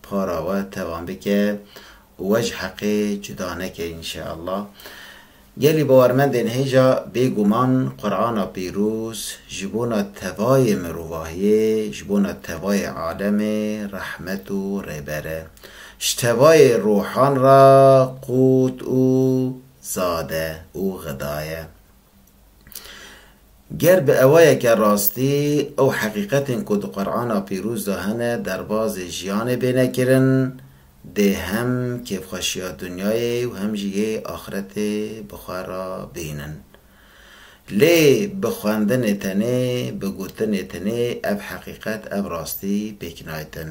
Para we tevan bike û we ji heqê cuda neke înşeallah. Gelî bawermendên hêja bêguman Qur'ana pîroz ji bona tevayê mirovahiyê, ji bona tevayê alemê rehmet û rêber e. Ji tevayê rohan re qût û zad e û xidaye. Ger bi ewayeke rastî ew heqîqetên ku di Qur'ana Pîroz de hene derbazê jiyanê bêne kirin, dê hem kêfxweşiya dinyayê û hem jî yê axiretê bi xwe re bînin. Lê bi xwendinê tenê, bi gotinê tenê ev heqîqet, ev rastî pêk naytin.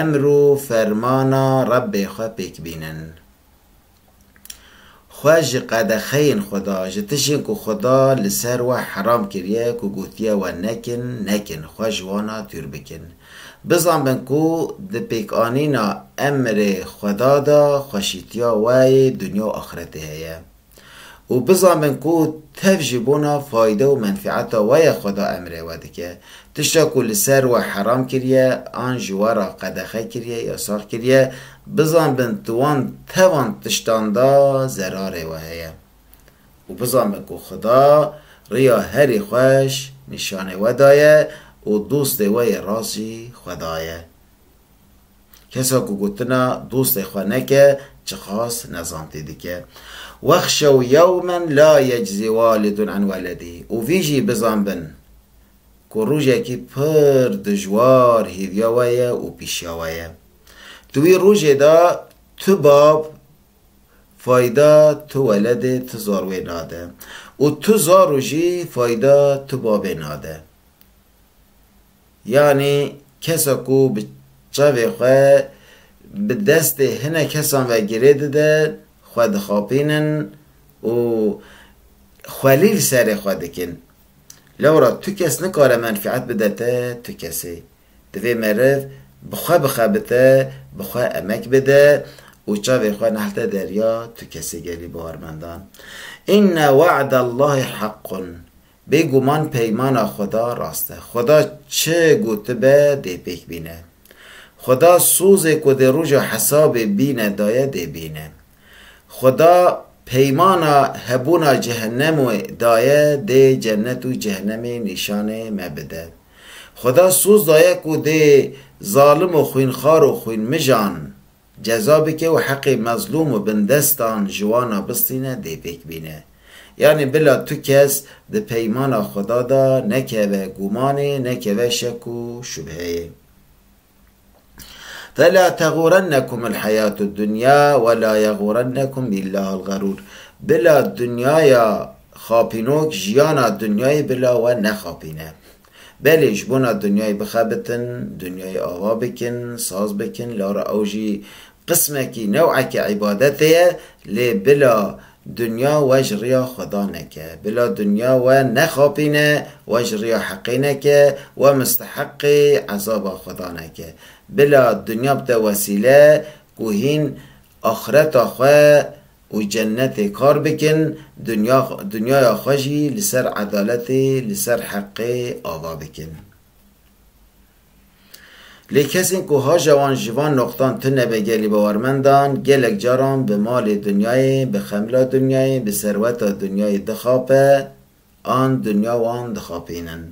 Emr û fermana Rebbê xwe pêk bînin. Xwe ji qedexeyên xwe da, ji tişên ku Xuda li ser we heram kiriye ku gotiye we nekin, nekin, xwe ji wana dûr bikin. Bizanbin ku di pêkanîna emrê Xweda da xweşîtiya we yê dinya û axretê heye. û bizamin ku tev ji bona fayde û menfeeta we ya xweda emrê we dike, tişta ku li ser we heram kiriye an ji we re qedexe kiriye, yasax kiriye, bizanbin di wan tevan tiştan de zerarê we heye û bizanbin ku xweda riya herî xweş nîşanê we daye û dostê we yê rast jî xweda ye. Kesa ku gotina dostê xwe neke, çiqas nezantî dike. Wexşew yewmen la yeczî walidun an weledî û vî jî bizan bin ku rojekî pir dijwar hêviya we ye û pîşiya we ye. Di wî rojê de tu bab fayda tu weledê tu zarwê nade û tu zaro jî fayda tu babê nade. Yanî kesa ku bi çavê xwe bi destê hinek kesan ve girê dide, xwe dixapînin û xwelîl serê xwe dikin. Lewra tu kes nikare menfîet bide te tu kesê. Divê meriv bi xwe bixebite, bi xwe emek bide û çavê xwe nehilde derya tu kesê gelî bawermendan. Inne wa'dallahî heqqun, Bê guman peymana Xweda rast e. Xweda çi gotibe dê pêk bîne. Xweda sozê ku dê roja hesabê bîne daye dê bîne. Xweda peymana hebûna cehenemê daye dê cennet û cehenemê nîşanê me bide. Xweda soz daye ku dê zalim û xwînxar û xwînmijan ceza bike û heqê mezlûm û bindestan ji wan a bistîne dê pêk bîne. Yanî bila tu kes di peymana Xweda de nekeve gûmanê, nekeve şek û şubheyê. Fela teğûrennekum el heyatu dunya ve la yeğûrennekum billahil ğerûr. Bila dunyaya xapînok jiyana dunyayê bila we nexapîne. Belê ji bona dinyayê bixebitin, dinyayê ava bikin, saz bikin, lara ew jî qismekî, new'ekî îbadetê ye, lê bila dinya we ji riya Xweda neke, bila dinya we nexapîne, we ji riya heqê neke, we misteheqê ezaba Xweda neke. Bila dinya bite wesîle ku hîn axireta xwe û cennetê kar bikin, dunya dunyaya xwe jî li ser edaletê, li ser heqê ava bikin. Lê kesên ku haja wan ji van noqtan tune be gelê bawermendan, gelek caran bi malê dunyayê, bi xemla dunyayê, bi serweta dunyayê dixape an dunya wan dixapînin.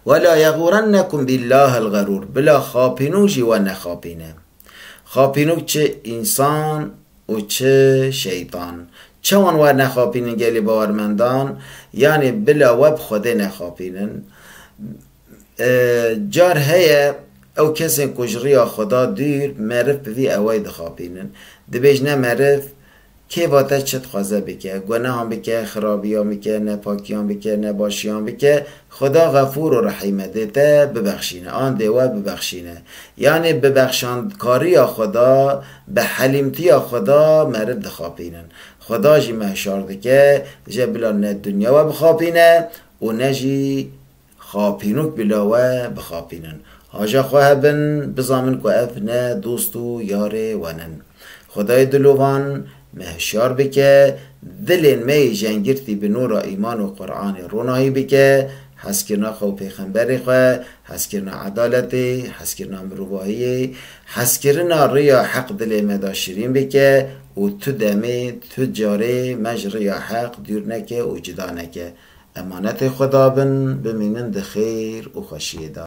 Wela yeğûrennekum bîllâhil ğerûr, bila xapînû jî we nexapîne. Xapînok çi însan û çi şeytan. Çawan wernexapînin gelê bawermendan yanê bila we bi Xwedê nexapînin. Car heye ew kesên ku ji riya Xweda dûr meriv bi vî ewey dixapînin. Dibêjne meriv Kê vate çi dixwaze bike, gunehan bike, xirabiyan bike, nepakiyan bike, nebaşiyan bike, Xuda Xefûr û Rehîm e, dê te bibexşîne an dê we bibexşîne. Yanê bi bexşandkariya Xuda, bi helîmtiya Xuda meriv dixapînin. Xuda jî me hişar dike je bila ne dinya we bixapîne û ne jî. Xapînok bila we bixapînin. Haja xwe hebin, bizamin ku ev ne dost û yarê wan in. Xwedayê dilovan, me hişyar bike, dilên me yê jengirtî bi nûra îman û Quranê ronahî bike, hezkirina xwe û pêxemberê xwe, hezkirina edaletê, hezkirina mirovahiyê, hezkirina riya heq dilê me de şirîn bike û tu demê, tu carê me ji riya heq dûr neke û cida neke. Emanetê xwe dabin, bimînin di xêr û xweşiyê de.